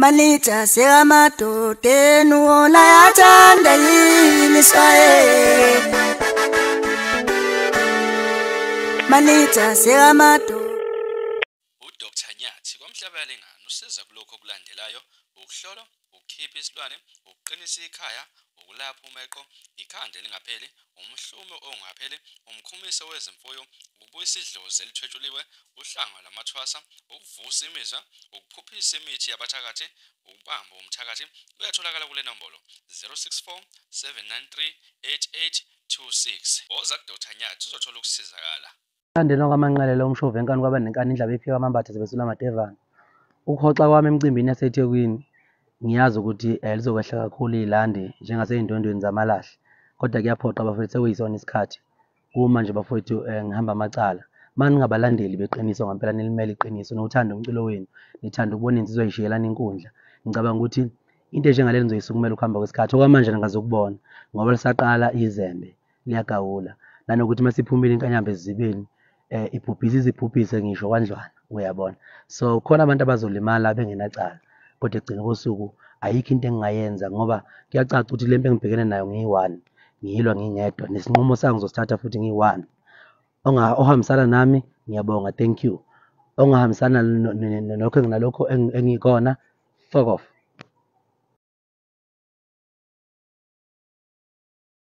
Manija sekamadoda enu wona yathanda yini iswayele Manija sekamadoda uDr Nyathi kwamhlabale ngani usiza kulokho okulandelayo ukuhlola ukukhipha isilwane ukuqinisa ikhaya ukulapha umeqo ikhanda elingapheli umhlume ongapheli, umkhumiso wezimfuyo, ukubuyisa idlozi elithwetshuliwe, uhlanga lwamathwasa, ukuvusa imizwa, ukuphuphisa imithi yabathakathi, ukubamba umthakathi kuyatholakala kule nombolo 064 793 8826. Woza kuDr Nyathi uzothola ukusizakala. Ukulandelwa kwamanqalela omshovu enkani kwaba nenkani indlaba iphika amambatha zibesula amadevana. Ukuhoxa kwami emcimbini yaseThekwini ngiyazi ukuthi eh, lizokwehla kakhulu ilandi njengasey'ndwendweni zamalahle kodwa kuyaphoqa bafowethu sekuyisona isikhathi kuma nje bafowethu eh, ngihamba amacala ma ningabalandeli beqiniso ngampela nilimele iqiniso niwuthanda umculo wenu nithanda ukubona insizwa ishiyelana inkundla ngicabanga ukuthi into enjengaleli nizoyisukumela ukuhamba kwesikhathi okwamanje ningazokubona ngoba lisaqala izembe liyagawula nanokuthi uma siphumile inkanyamba ezibeni um eh, ibhubhise izibhubhise ngisho kwandlwana uyabona so khona abantu abazolimala bengenacala kodwa ekugcina kosuku ayikho into engingayenza ngoba kuyacaca ukuthi le mpi engibhekene nayo ngiyi-one ngiyilwa ngingedwa nesinqumo sangu zosithatha futhi ngiyi-one ohambisana nami ngiyabonga thank you ongahambisana nokho enginalokho engikona fuck off